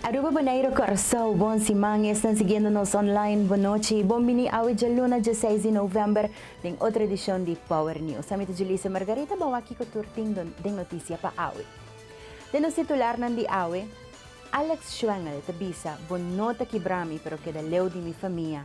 Aruba Boneiro Curaçao Bon siman esnan siguiendo nos online Bon nochi y bon bini awe djaluna dieseis di november den otro edicion di Power News Ami ta Julissa Margarita Bawa kico tur tin den noticia pa awe Den nos titularnan di awe Alex Schwengel ta bisa Bo no ta kibrami pero keda leu di mi famia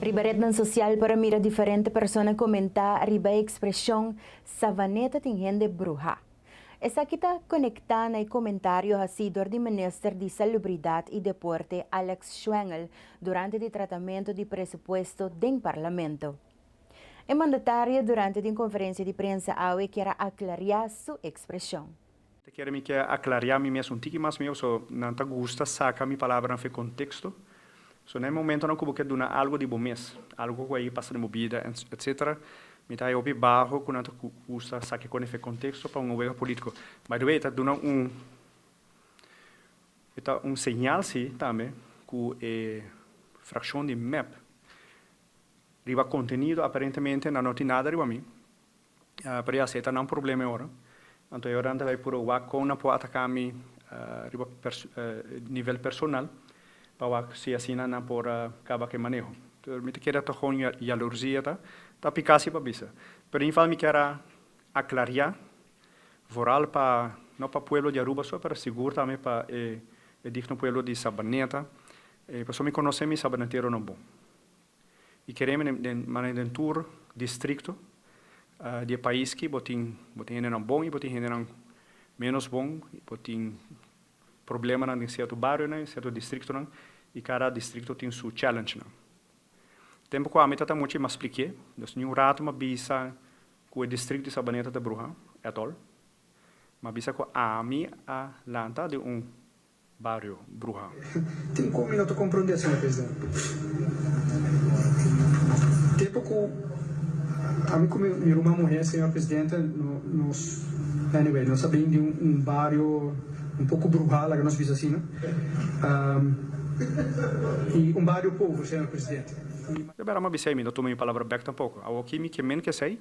Riba retnan sosial por a mira diferente persona komentá riba e ekspreshon Savaneta tin hende bruhá. Esaki ta konektá na e komentario hasí dor di Minister di Salubridat i Deporte Alex Schwengel durante di tratamentu di presupuesto den Parlamento. E mandatario durante di un konferensia di prensa awe kier a aklariá su ekspreshon. Ta kere mi kier aklariá mi mes un tiki mas mihó, so nan ta gusta saka mi palabranan for e konteksto. So na e momentonan ku bo ke duna algu di bo mes, algu ku a yei pasa den bo bida, etc. Mi ta haña hopi baho ku nan ta gusta saka e kosnan for e konteksto pa un owega polítiko. By the way, e ta duna un, e ta un señal si tambe ku e frakshon di mep riba kontenido aparentemente nan no tin nada riba mi. Pero ya, si e ta nan problema e ora, anto e ora nan ta bay puru wak con nan por ataca mi riba nivel personal pa wak si asina nan por caba cu e maneho. Entonces mi ta keda togon yalursia ta, ta pica si pa bisa. Pero in geval mi kier a aclaria vooral pa, no pa pueblo di Aruba so, pero sigur tambe pa e digno pueblo di Sabaneta, pasobra mi conoce mi Sabanetero no bon. I kere mi den manera den tur distrikto di e pais ki bo tin bo tin hendenan bon i bo tin hendenan menos bon i bo tin problemanan den sierto barionan i sierto distriktonan i kada distrikto tin su challengnan. Tempu ku ami ta ta mucha i mas plik'é nos ni un rato m'a bisa ku e distrikto di Sabaneta ta bruha at all. M'a bisa ku ami a lanta den un Bario Bruha. Tin con mi no ta comprende, señor presidente. Tempo cu ami cu mi ruman muher, señor presidente, nos, anyway, nos a bini di un bario un poco bruha, laga nos bisa asina, y un bario pover, señor presidente, y. Debe Rama bisa y mi no tuma mi palabra bek tampoco. Awo aki mi ke men ke say,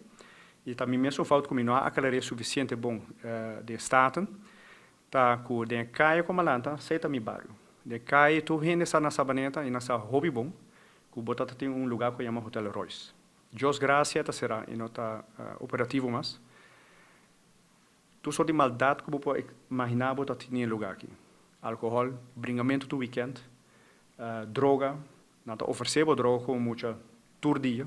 y ta mi mes un fout cu mi no a aclar'e suficiente bon den Staten, Ta ku den e kaya ku malanta, sei ta mi bario. Den e kaya tur hende sa nan Sabaneta i nan sa hopi bon ku bo ta ta tin un lugá ku yama Hotel Royce. Djos Gracia ta será i no ta operativo mas. Tur sort di maldat ku bo por imaginá bo ta tin den e lugá aki. Alkohòl, bringamentu tur wikènt, droga, Nan ta ofersé bo droga ku un mucha tur dia.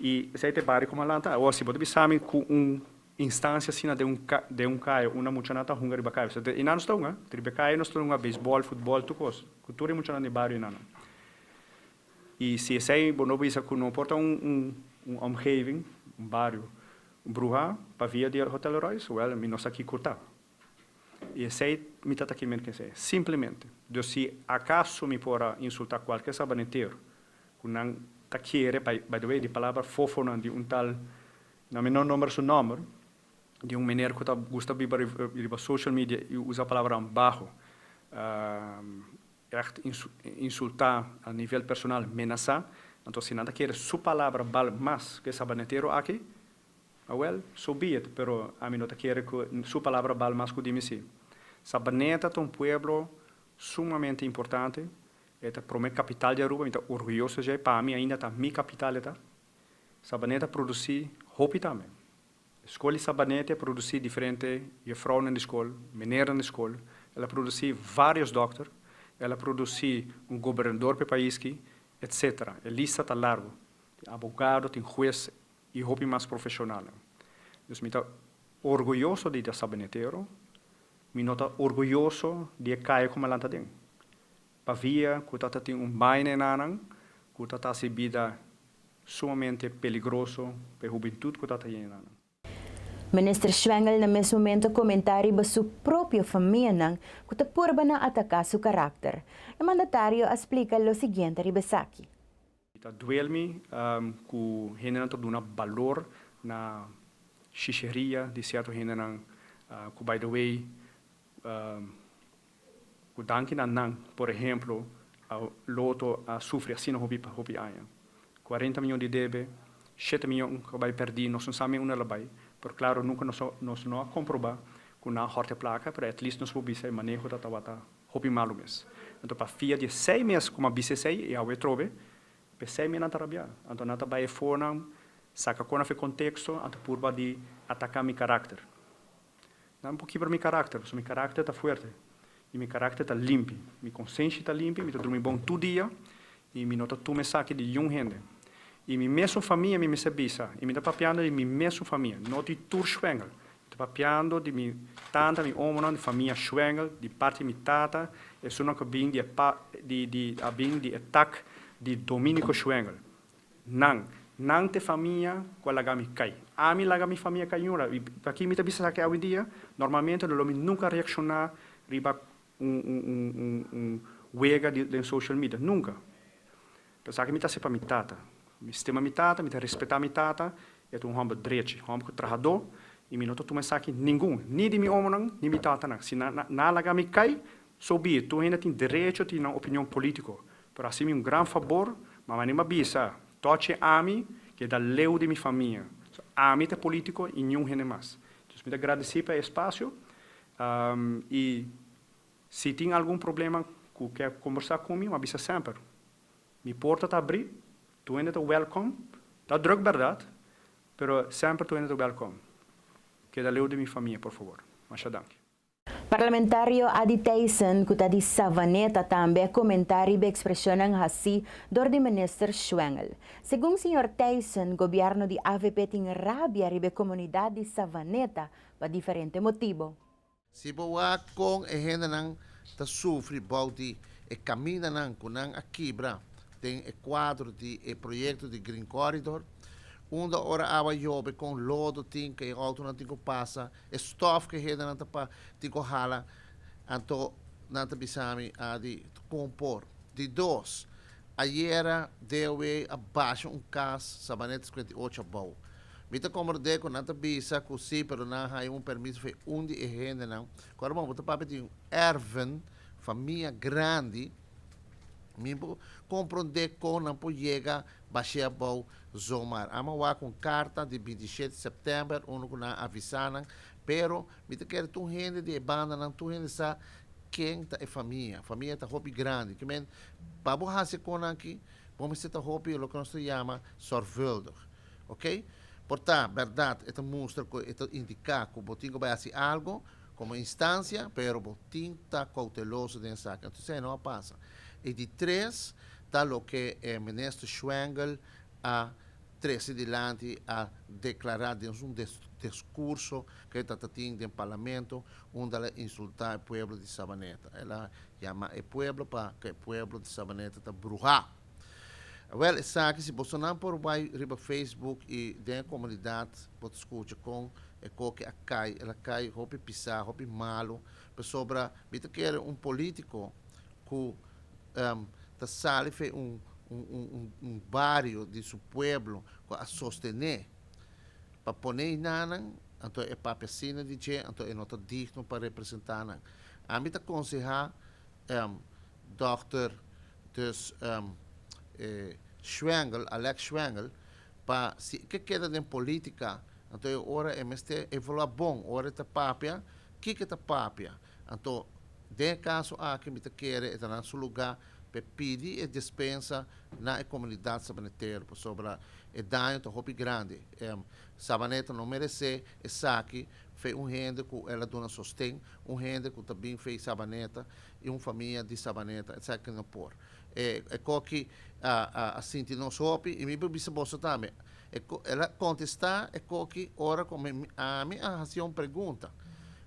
I esei ta e bario ku mi a lanta awo. Si bo ta bisa mi ku un instancia asina den un den un kaya unda mucha nan ta hunga riba kaya bisat e nanus ta hunga riba e kaya nos ta hunga beisbòl, futbòl, tur kos ku tur e muchanan den e bario nan. I si esei bo no bisa ku no por ta un un un omgeving, un bario, bruhá pa via di Hotel Royce, wèl mi no sa kiko ta. I esei mi ta ta kimer ku esei. Simplemente. Dus si akaso mi por a insultá kualke sabaneteru ku nan ta kere bai, by the way di palabra fófonan di un tal, nan mi no nomber su nòmber, di un meneer ku ta gusta biba riba social media i usa palabranan baho, ègt insultá a nivel personal, menasá, anto si nan ta kere su palabra bal mas ku e sabaneteru aki, Awel, so be it, pero ami no ta kere ku su palabra bal mas ku di mi si. Sabaneta ta un pueblo sumamente importante, e ta prome kapital di Aruba, mi ta orguyoso dje, pa mi ainda ta mi kapital e ta. Sabaneta produsí hopi tambe. Skol di Sabaneta e produsí diferente jefrounan di skol, menernan di skol, el a produsí vários dòkter, el a produsí un gobernador pa e país ki, etcétera. E lista ta largu. Tin abogado, tin hues, i hopi mas profeshonalnan. Dus mi ta orguyoso di e Sabinetero, mi no ta orguyoso di e kaya ku mi a lanta den, pabia ku ta ta tin un baina enanan ku ta ta hasi bida sumamente peligroso pa e hubentut ku ta ta yen enanan. Minister Schwengel na mes momento a komentá riba su propio famianan ku ta purba na ataká su karakter. E mandatario a splika lo siguiente riba esaki. Mi ta duel mi cu hendenan ta duna balor na shisheria di cierto hendenan cu by the way cu danki na nan por ehemplo Lotto a sufri asina hopi hopi aña cuarenta mion di debe shete mion cu a bay perdi nos no sa me unda la bay pero claro nunca nos nos no a comproba cu nan a horta e placa pero at least nos por bisa e maneho ta tabata Hopi malu mes. Anto pa fia di e sei mes kuma bisa esei i awe trobe, pa e sei mes nan ta rabiá. Anto nan ta bai e fonan, saka konaf e konteksto, anto purba di ataka mi karakter. Nan por kibra mi karakter, pasobra mi karakter ta fuerte i mi karakter ta limpi. Mi konsenshi ta limpi, mi ta drumi bon tur dia i mi no ta tuma esaki di yun hende. I mi mesun famia mi mester bisa, i mi ta papiando di mi mesun famia, no di tur Schwengel, Ta papiando di mi tanta, mi omonan, di famia Schwengel, di parti di mi tata, esunnan ku a bin di e a bin di e tak di Dominico Schwengel. Nan, nan ta e famia ku a laga mi kai. Ami laga mi famia kai yura i aki mi ta bisa esaki awendia, normalmente lo mi nunka a reakshoná riba un wega den social media, nunka. Esaki mi ta hasi pa mi tata. Mi stima mi tata, mi ta respetá mi tata, e ta un hòmber drechi, hòmber ku trahadó, i mi no ta tuma esaki ningun, ni di mi omonan, ni mi tatanan. Si nan a laga mi kai, so be it, tur hende tin derecho tin nan opinion polítiko, pero hasi mi un gran fabor, mama anima bisa, tòchi ami keda leu di mi famia, so ami ta e polítiko i niun hende mas. Entonces mi ta gradesí pa e espasio, i Si tin algun problema ku ke kombersá ku mi, m'a bisa semper. Mi porta ta abrí, tuende ta wèlkom, ta drùk bèrdat, pero semper tuende ta wèlkom. Keda leu di mi famia, por favor. Masha danki. Parlamentario Ady Thijssen, ku ta di Savaneta, tambe komentá riba ekspreshonnan hasí dor di Minister Schwengel. Segun señor Thijssen, gobièrnu di avp tin rabia riba e komunidat di Savaneta pa diferente motibo. Si bo wak kon e hendenan ta sufri bou di e kamindanan ku nan a kibra den e kuadro di e proyekto di Green Corridor, unda ora awa yobe kon lodo tin ku e outonan tin ku pasa, e stòf ku e hendenan ta pa tin ku hala, anto nan ta bisa mi a di kon por. Di dos, Ayera DOW a basha un cas Sabaneto cincuenta y ocho abou. Mi ta comrode cu nan ta bisa cu si pero nan a haya un permiso for un di e hendenan cu aruba bo ta papia di un erven famia grandi mi bo comprende con nan por yega bashe abou zomar. Amo a wak un carta di binti i shete september unda cu nan a avisa nan pero Mi ta kere tur hende di e bandanan, tur hende sa ken ta e famia. Famia ta hopi grandi. Ke men, pa bo hasi e konan aki, bo mester ta hopi loke nos ta yama sorvuldig. Ok? Por ta bèrdat, e ta mustra ku e ta indiká ku bo tin ku bai hasi algu komo instansia, pero bo tin ta kouteloso den esaki. Anto esei no a pasa. I di tres ta loke e Minister Schwengel a trese dilanti a deklará den su deskurso ku e tatatin den parlamento unda el a insultá e pueblo di Sabaneta. El a yamá e pueblo pa ku e pueblo di Sabaneta ta bruhá. Wèl, esaki si boso nan por bai riba Facebook i den e komunidat bo ta skucha kon e koke a kai. El a kai hopi pisá, hopi malu, pasobra mi ta kere un polítiko ku ta sali fen un un bario di su pueblo ku a sostené pa pone einanan anto e papia asina di dje anto e no ta digno pa representá nan ami ta konsehá dòkter dus Schwengel Alex Schwengel pa si e ke keda den politika anto e ora e mester evaluá bon ora e ta papia kiko e ta papia. Anto, den e kaso aki mi ta kere e ta nan su lugá pa e pidi e despensa na e komunidat Sabanetero pasobra e daño ta hopi grandi. Em, Sabaneta no meresé esaki fe un hende ku el a duna sosten, un hende ku ta bin fe Sabaneta i un famia di Sabaneta. Esaki no por. E e koki a a a sinti nos hopi i mi por bisa boso tambe e ko el a kontestá e koki ora ku mi ami a hasié un pregunta.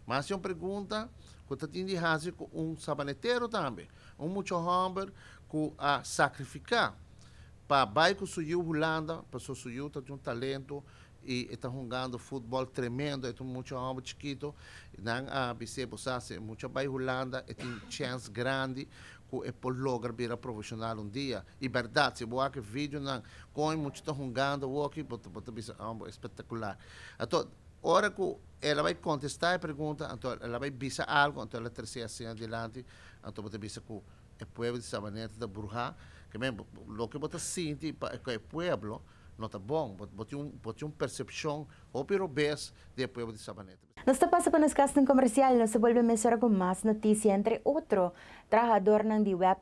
Mas di un pregunta ku ta tin di hasi ku un sabanetero tambe, un mucha hòmber ku a sakrifiká pa bai ku su yu Hulanda pasobra su yu ta tin un talento i e ta hungando futbòl tremendo. E ta un mucha hòmber chikitu. Nan a bis'é, e bo sa si e mucha bai Hulanda e tin chèns grandi ku e por logra bira profeshonal un dia. I bèrdat, si bo wak e videonan kon e mucha ta hungando awoki bo ta bisa, Ambo e spèktakular. Anto ora ku El a bai contesta e pregunta, anto el a bai bisa algo, anto el a trece asin adilanti, anto bo ta bisa cu e pueblo di Sabaneta ta bruha, ke men, loke bo ta sinti pa e pueblo no ta bon, bo tin un, bo tin un percepcion hopi robes di e pueblo di Sabaneta. Nos ta pasa pa nos casting comercial, nos a bolbe mesora cu mas noticia, entre otro, trahadornan di web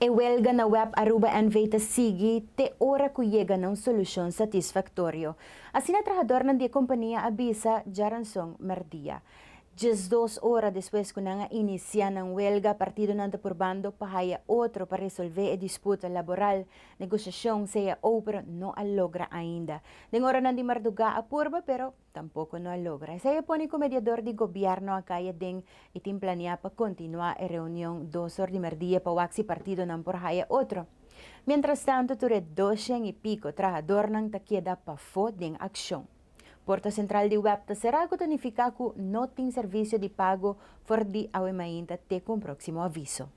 E welga na web Aruba NV ta sigui te ora cu yega na un solucion satisfactorio. Asina trahadornan di e compania a bisa Jaranson merdia. Diesdos ora despues ku nan a inisiá nan welga, partidonan ta purbando pa haya otro pa resolvé e disputa laboral. Negosiashon sea ou pero no a logra ainda. Den oranan di mardugá a purba pero tampoko no a logra. Esei a pone ku mediador di gobièrnu a kaya den i tin planeá pa kontinuá e reunion dos or di merdia pa wak si partidonan por haya otro. Mientrastantu tur e doshen i piko trahadornan ta keda pafó den akshon. Porta sentral di web ta será cu ta nifica cu no tin servicio di pago for di awe mainta te cu un proximo aviso.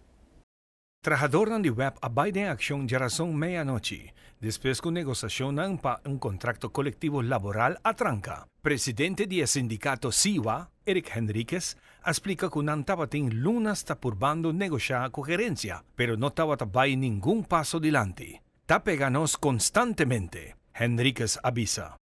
Trahadornan di web a bay den accion djarazon meyanochi, despues cu negosacionnan pa un contracto colectivo laboral a tranca. Presidente di e sindicato SIWA, Eric Henriquez, a splica cu nan tabatin lunas ta purbando negocia cu gerencia, pero no tabata bay ningun paso dilanti. ta pega nos konstantemente, Henriquez a bisa.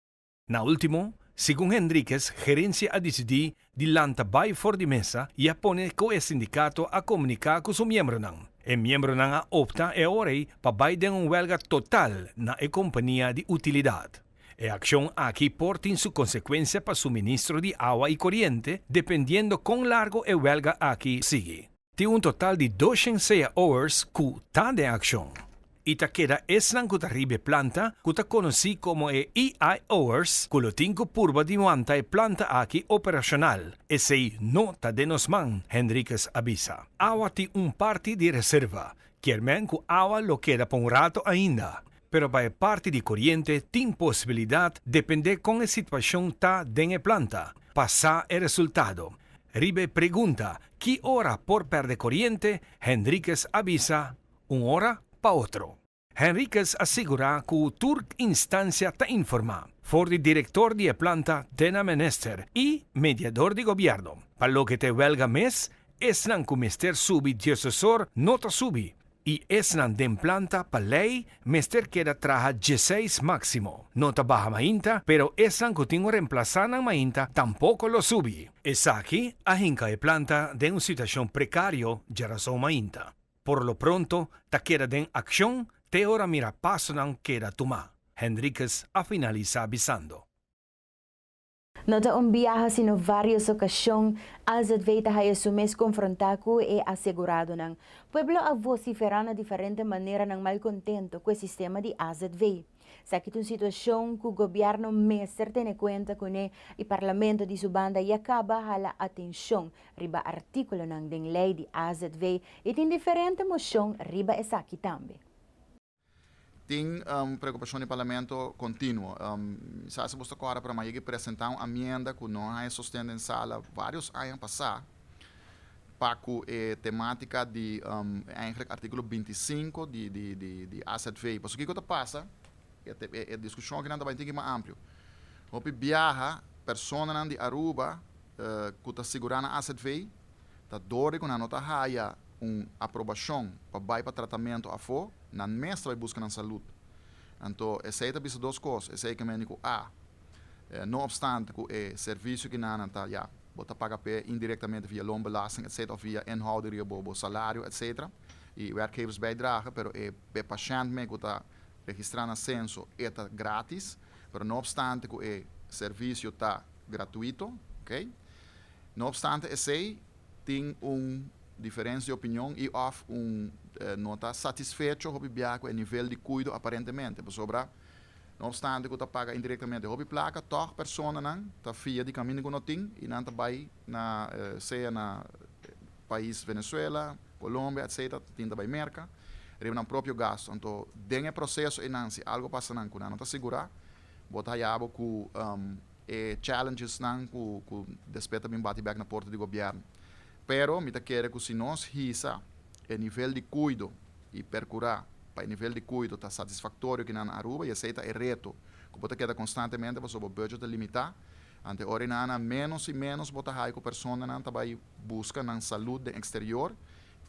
Na último, segun Henriquez, gerensia a disidí di lanta bai for di mesa i a pone ku e sindikato a komuniká ku su miembronan. E miembronan a opta e ora ei pa bai den un wèlga total na e kompania di utilidat. E akshon aki por tin su konsekuensia pa suministro di awa i koriente, dependiendo kon largo e wèlga aki sigui. Tin un total di doshen sea oers ku ta den akshon i ta keda esnan ku ta riba e planta ku ta konosí komo e EI oers ku lo tin ku purba di wanta e planta aki operashonal. Esei no ta den nos man, Henriquez a bisa. Awa tin un parti di reserva, kier men ku awa lo keda pa un rato ainda. Pero pa e parti di koriente tin posibilidat dependé kon e situashon ta den e planta pa sa e resultado. Riba e pregunta ki ora por pèrdè koriente, Henriquez a bisa, Un ora pa otro. Henriquez a sigurá ku tur instansia ta informá, for di direktor di e planta te na menister i mediador di gobièrnu. Pa loke ta e wèlga mes, esnan ku mester subi diosesor no ta subi, I esnan den planta pa lei mester keda traha dieseis máksimo. No ta baha mainta, pero esnan ku tin un remplasá nan mainta tampoko lo subi. Esaki a hinka e planta den un situashon prekario dje rason mainta. Por lo pronto ta keda den akshon te ora mira pasonan keda tumá, Henriquez a finalisá bisando. No ta un biaha sino varios ocasion AZV ta haya su mes confronta cu e aseguradonan. Pueblo a vocifera na diferente manera nan malcontento cu e sistema di AZV. Saki ta un situacion cu gobierno mester tene cuenta cune y Parlamento di su banda ya caba hala atencion riba articulonan den ley di AZV y tin diferente mocion riba esaki tambe. Tin un preokupashon di parlamento kontinuo. Mi sa si bos ta kòrda promé yega presentá un amienda ku no haña sosten den sala vários aña pasá pa ku e temátika di èntlik artíkulo binti i sinku di AZV. Pasobra kiko ta pasa, e diskushon akinan ta bai tin ki mas amplio. Hopi biaha, personanan di Aruba. ku ta sigurá nan azv ta dorde ku nan no ta haya un aprobashon pa bai pa tratamentu afó, nan mes ta bai buska nan salud. Anto esei ta bisa dos kos, esei ke mendi ku a No opstante ku e servisio ki nannan ta ya bo ta paga p'e indirektamente via loonbelasting etc. Òf via inhouding riba bo bo salario etc. I werkgeversbijdrage pero e p'e pashènt me ku ta registrá na senso e ta gratis pero no opstante ku e servisio ta gratuito, ok. No opstante esei, tin un diferens di opinion i òf un no ta satisfecho hopi bia ku e nivel di kuido aparentemente. Pasobra no opstante ku ta paga indirektamente hopi plaka, tòg personanan ta fia di kaminda ku no tin i nan ta bai na sea na pais Venezuela, Colombia etc. Ta tinta bai Merka riba nan propio gastu. Anto den e proseso einan si algu pasa nan ku nan no ta sigurá, Bo ta haya bo cu e challengesnan cu cu despues ta bin bati bek na porta di Gobierno. Pero mi ta kere cu si nos hisa e nivel di cuido y percura pa e nivel di cuido ta satisfactorio aquí na Aruba y esey ta e reto cu bo ta keda constantemente pasobra bo budget ta limita, ante ora y na menos y menos bo ta haya cu personanan ta bay busca nan salud den exterior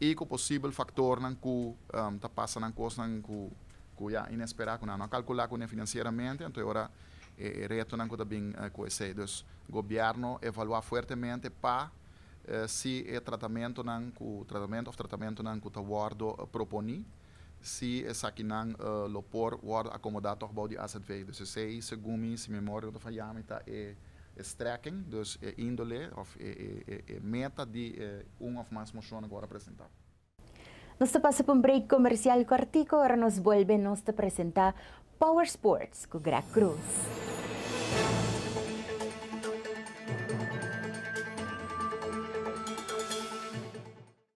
I ku posibel faktornan ku ta pasa nan kosnan ku ya inesperá, ku nan no a kalkulá kuné finansieramente, anto e ora e retonan ku ta bin ku esei. Dus gobièrnu evaluá fuertemente pa si e tratamentunan ku tratamentu òf tratamentunan ku ta wòrdu proponí, Si esakinan lo por wòrdu akomodá tòg bou di azv. Dus esei, segun mi, si memoria no ta fayá mi, ta e strekking, dus e índole òf e meta di e un òf mas moshonnan ku wòrdu presentá. Nos ta pasa pa un break komersial kòrtiku, ora nos bolbe nos ta presentá Power Sports ku Greg Cruz.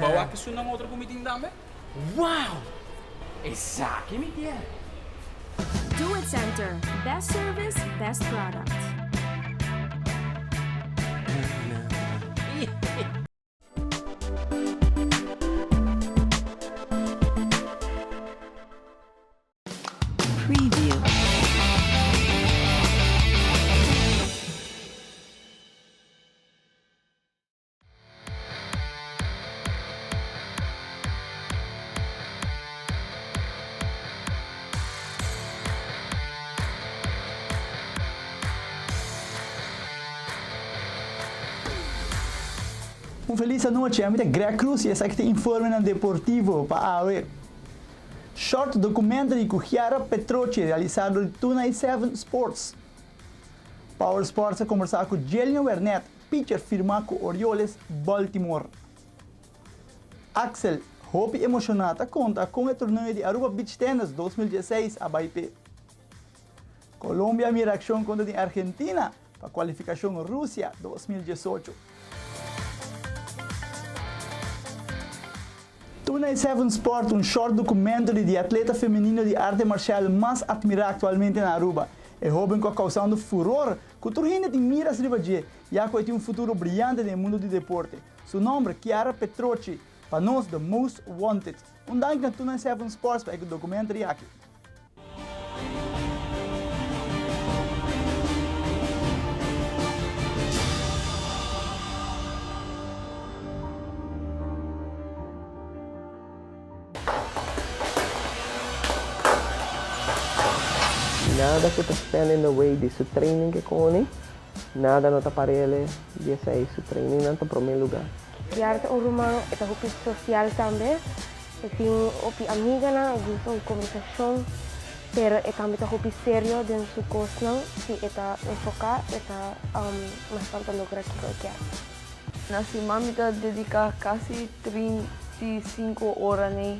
Ba wak esun nan otro ku mi tin tambe? Wow! Esaki mi kier! Do It Center, Best Service, Best Product. Un felis anochi, ami ta Greg Cruz y esaki ta informenan deportivo pa awe. Short documentary cu Chiara Petrocchi realisado di Tuna y Seven Sports. Power Sports a conversa cu Jelian Wernet Pitcher firmá ku Orioles Baltimore. Axel hopi emoshoná ta konta kon e torneo di Aruba Beach Tennis dos mil dieseis a bai p'e. Colombia mira akshon kontra di Argentina pa kualifikashon Rusia dos mil diesocho. Tuna e Seven Sport un short dokumento di di atleta femenino di arte marshal mas atmirá aktualmente na Aruba, e hóben ku a kousando furor ku tur hende tin miras riba dje, ya ku e tin un futuro briante den e mundu di deporte. Su nòmber, Chiara Petrocci, pa nos The Most Wanted. Un danki na Tuna en Seven Sports pa e documentary aki. Nada ku ta stand in the way di su training ke koni, nada no ta parele di esei. Su training nan ta prome luga. Kiara ta un ruman, e ta hopi sosial tambe. E tin hopi amiganan, e gusta un kombersashon. Pero e tambe ta hopi serio den su kosnan. Si e ta enfoká, e ta mas pronto logra kiko e kier. Na siman mi ta dediká kasi trinta i sinku ora nei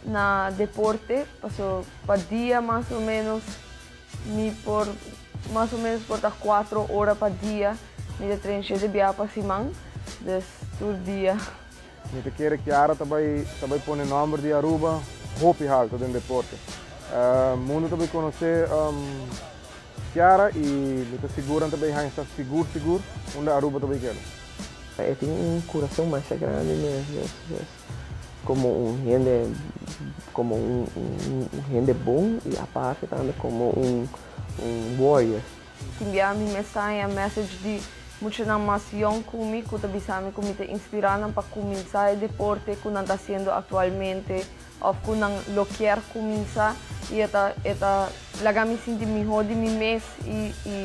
na deporte, paso pa dia mas o ménos mi por mas o ménos por ta kuatro ora pa dia mi ta trensh'é, di biaha pa siman. Dus tur dia Mi ta kere Kiara ta bai ta bai pone nomber di Aruba hopi halto den deporte. Mundu ta bai konosé Kiara i mi ta sigur nan ta bai haña sa sigur sigur unda Aruba ta bai keda. E tin un kurason masha grandi mes yes yes komo un hende komo un hende bon i aparte tambe komo un un warrior. Kimbia mi mensai a message di muchanan mas yong ku mi ku ta bisa mi ku mi ta inspirá nan pa kuminsá e deporte ku nan ta hasiendo aktualmente òf ku nan lo kier kuminsá i e ta e ta laga mi sinti mihó di mi mes i i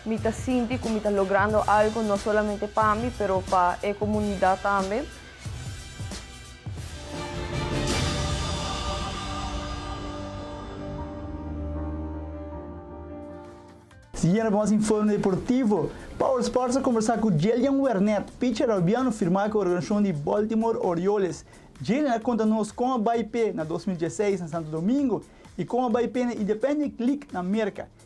mi ta sinti ku mi ta logrando algu no solamente pa mi pero pa e komunidat tambe. Siguiendo cu nos informe deportivo, pa All Sports a conversa cu Jelian Wernet, pitcher Arubiano firma cu organisacion di Baltimore Orioles. Jelian a conta nos con a bay pe na dos mil diesseis na Santo Domingo y con a bay pe na Independent League na Merca.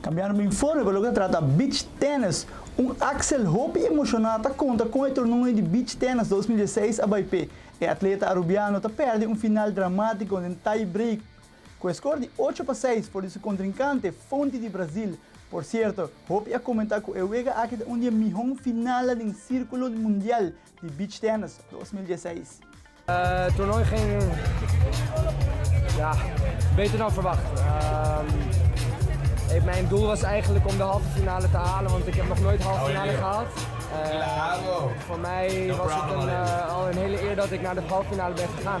Cambiando informe pa loke ta trata Beach Tennis, un Axel hopi emociona ta conta con e tornoe di Beach Tennis dos mil dieseis a bay p'e. E atleta Arubiano ta perde un final dramatico den tie break Cu e score di ocho pa seis for di su contrincante, Fonti di Brasil. Por cierto, hopi a comenta cu e wega aki ta un di e mihon finalnan den circulo mundial di beach tennis dos mil diesseis. Toernooi ging ja beter dan verwacht. Mijn doel was eigenlijk om de halve finale te halen, want ik heb nog nooit halve finale gehaald. Voor mij was het al een hele eer dat ik naar de halve finale ben gegaan.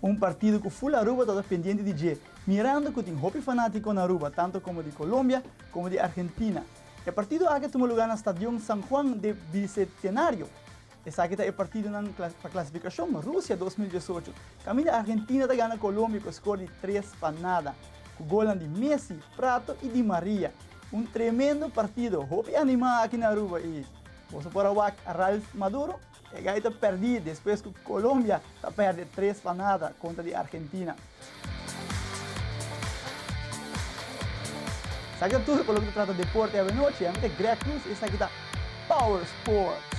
Un partido cu full Aruba tabata pendiente di dje, mirando cu tin hopi fanatico na Aruba, tanto como di Colombia como di Argentina. E partido aki a tuma lugar na Stadion San Juan de Bicetenario. Esaki ta e partidonan pa clasificacion Rusia dos mil diesocho, caminda Argentina ta gana Colombia cu e score di tres pa nada, cu golnan di Messi, Prato y Di Maria. Un tremendo partido, hopi anima aki na Aruba y boso por a wak Ralph Maduro? E gai ta perdi despues cu Colombia ta perde tres pa nada contra di Argentina. Sa ki ta tur pa loke ta trata deporte awe nochi. Ami ta Greg Cruz y esaki ta Power Sports.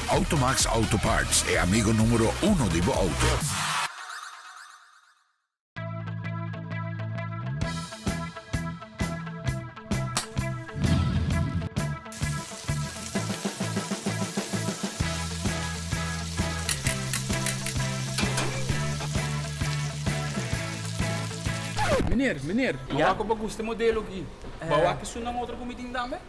Automax Auto Parts, e amigo numero uno di bo auto. Meneer, meneer, awak ku bo gusta e modelo aki, bo awak e su nan otro kumitin tambe?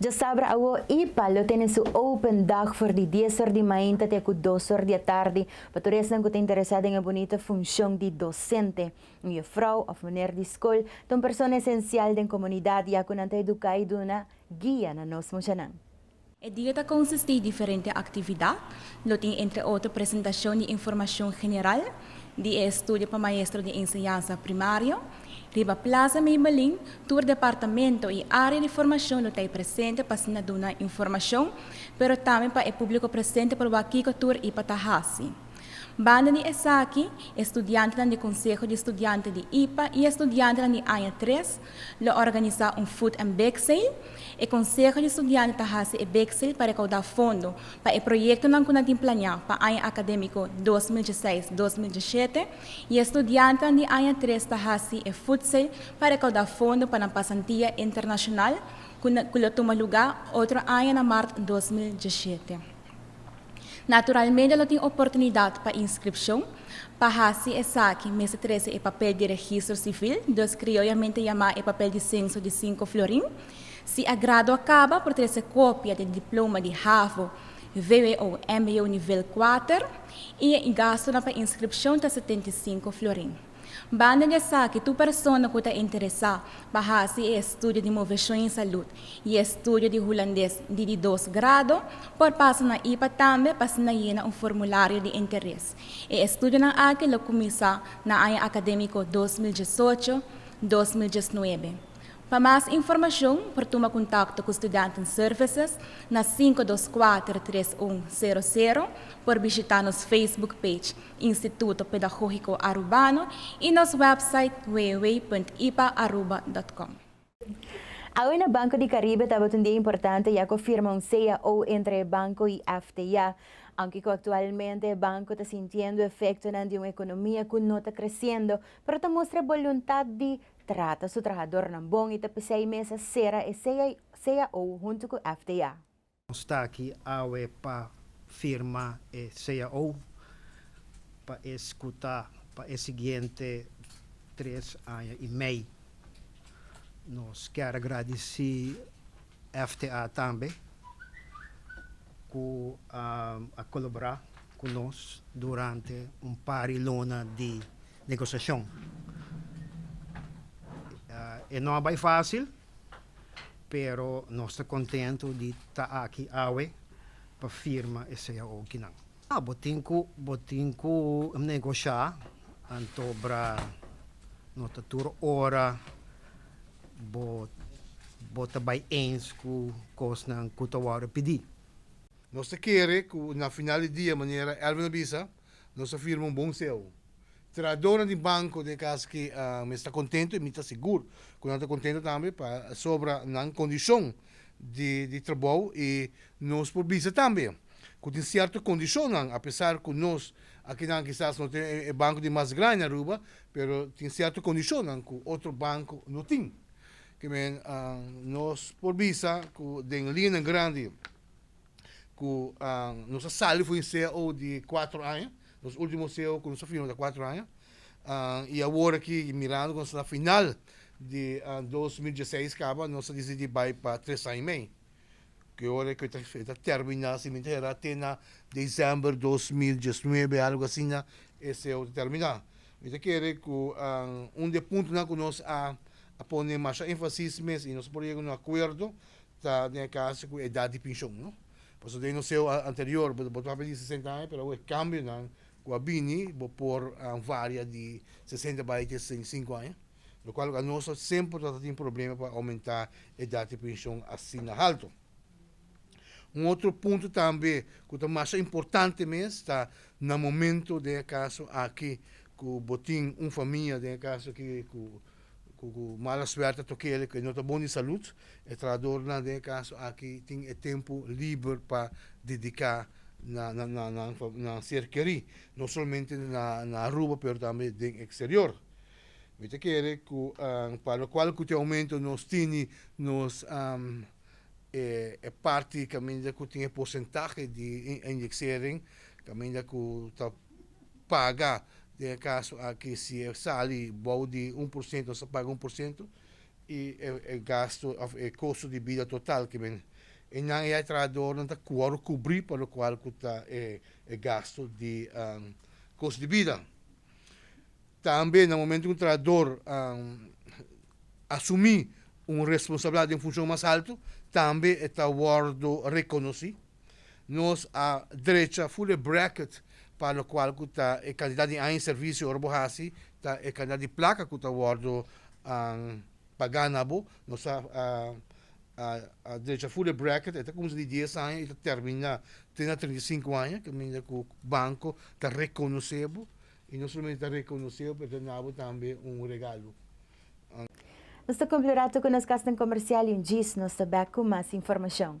Djasabra awo IPA lo tene su open dag for di dies or di mainta te ku dos or di atardi pa tur esnan ku ta interesá den e bunita funshon di dosente. Un yefrou òf muner di skol ta un persona esensial den komunidat ya ku nan ta eduká i duna guia na nos mushanan. E dia ta konsistí di diferente aktividat. Lo tin entre otro presentashon di informashon general di e estudio pa maestro di enseñansa primario. Riba Plaza Maybelline tur departamento i área di formashon lo t'ei presente pa asina duna informashon pero tambe pa e públiko presente por wak kiko tur ipa ta hasi. Banda di esaki e studiantenan di Konseho di Studiante di ipa i e studiantenan di aña tres Lo organisá un food and bake sale. E konseho di studiante ta hasi e bake sale pa rekaudá fondo pa e proyektonan ku nan tin planeá pa aña akadémiko dos mil djeseis, dos mil djeshete i e studiantenan di aña tres ta hasi e food sale pa rekaudá fondo pa nan pasantia internashonal ku lo tuma lugá otro aña na mart dos mil djeshete. Naturalmente lo tin oportunidad pa inscripcion. Pa haci esaki mester trece e papel di registro civil, dus crioyamente yama e papel di censo di cinco florin. Si a grado a caba por trece copia di e diploma di havo, vwo, mbo nivel cuater y e gastonan pa inscripcion ta setenta y cinco florin. Banda di esaki, tur persona ku ta interesá pa hasi e estudio di Moveshon i Salud i e estudio di Hulandes di di dos grado por pasa na ipa tambe pa asina yena un formulario di interes. E estudionan aki lo kuminsá na aña akadémiko dos mil diesocho, dos mil diesnuebe. Pa mas informashon por tuma kontakto ku Studenten Services na sinku dos kuater tres un sero sero, por bishitá nos Facebook page, Instituto Pedagógico Arubano y nos website www.ipaaruba.com. Awyna Banco di Caribe tabatin un dia importante ya cu firma un cao entre e banco y FTA, aunke cu actualmente e banco ta sintiendo efectonan di un economia cu no ta creciendo, pero ta mustra e boluntad di trata su trahadornan bon y ta p'esey mesa cera e cao hunto cu FTA. Nos ta aki awe pa firma e cao pa es cu ta pa e siguiente tres aña y mei. Nos ker gradici FTA tambe cu a colabora cu nos durante un par di luna di negociacion. E no a bay facil. pero nos ta contento di ta aki awe pa firma e sea oki nan. Ah, bo tin cu, bo tin cu negosha, antobra no ta tur ora bo, bo ta bay eens cu cosnan cu ta wordo pidi. Nos ta kere cu na final di dia manera Erwin a bisa, Nos a firma un bon seo. Trahadonan di banko den e kas aki mes ta kontentu i mi ta sigur ku nan ta kontentu tambe pasobra nan kondishon di trabou i nos por bisa tambe ku tin sierto kondishonnan apesar ku nos akinan kisas no ta e banko di mas grandi na Aruba pero tin sierto kondishonnan ku otro banko no tin ke nos por bisa ku den lianan grandi ku nos a sali for e ceo di kuater aña nos ultimo ceo ku nos a firma ta kuater aña i awor aki mirando ku nos ta na final di dos mil dieseis kaba nos a disidí bai pa tres aña i mei ku e ora ku e ta terminá si mi ta hera te na diciember dos mil diesnuebe algu asina e ceo ta terminá mi ta kere ku un di e puntonan ku nos a pone masha enfasis mes i nos a por yega a un akuerdo. Ta den e caso cu edad di pension, no? Pasobra den nos eeuw anterior bo bo tabata di sesenta aña, pero awe e cambionan cu a bini bo por varia di sesenta bay te sesenta i sinku aña, locual loke anos ta semper ta tin problema pa aumenta edad di pension asina halto. Un otro punto tambe cu ta masha importante mes ta na momento den e caso aki cu bo tin un famia den e caso aki cu Cu mala suerte toque el cu e no ta bon di salud. E trahadornan den e caso aki tin e tempo liber pa dedica na nan ser keri. No solamente na Aruba pero tambe den exterior. Mi ta kere cu pa locual cu tin e aumento nos tini nos e parti caminda cu tin e porcentahe di inyeceren caminda cu ta paga, den e kaso aki si e sali bou di un por siento sa paga un por siento i e gasto òf e kosto di bida total ke men e nan ei trahadornan ta wòrdu kubrí pa lokual ku ta e e gasto di kost di bida. Tambe na momentu ku un trahador asumí un responsabilidat den funshon mas altu tambe e ta wòrdu rekonosí. Nos a drecha full e bracket pa lokual ku ta e kantidat di aña di servisio ora bo hasi, ta e kantidat di plaka ku ta wòrdu pagá na bo. Nos a a drecha full e bracket, e ta kumsa di dies aña i ta terminá te na trinta i sinku aña, kaminda ku banko ta rekonosé bo i no solamente ta rekonosé bo pero ta na bo tambe un regalo. Nos ta kumpli rato ku nos kasnan komersial i un djis nos ta bèk ku mas informashon.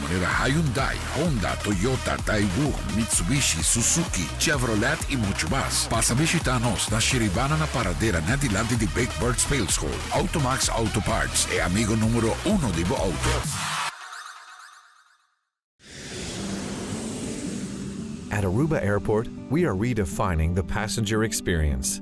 manera Hyundai, Honda, Toyota, Daewoo, Mitsubishi, Suzuki, Chevrolet y mucho mas. Pasa bishita nos na Shiribana na paradera net dilanti di Big Bird Speelschool. Automax Auto Parts, e amigo numero uno di bo auto. At Aruba Airport, we are redefining the passenger experience.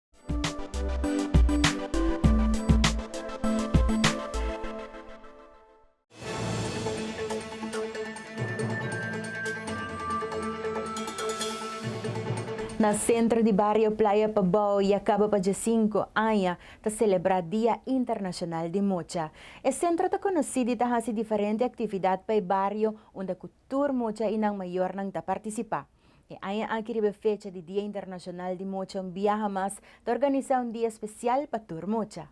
Na sentro di bario Playa Pabao yakaba pa dje sinku aña ta selebrá Dia Internashonal di Mocha. E sentro ta konosí di ta hasi diferente aktividat pa e bario unda ku Tur mucha i nan mayornan ta partisipá. E aña aki riba e fecha di Dia Internashonal di Mucha un biaha mas ta organisá un dia spesial pa tur mucha.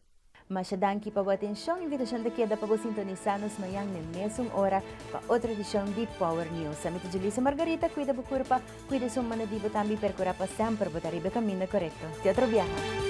Masha danki pa bo atenshon. Invitashon ta keda pa bo sintonisa nos mañan n'e mesun ora pa otro edishon di Power News. Ami ta Julisa Margarita, kuida bo kurpa, kuida esun manda di bo tambe i perkura pa semper bo ta riba e kaminda korekto. Te otro biaha.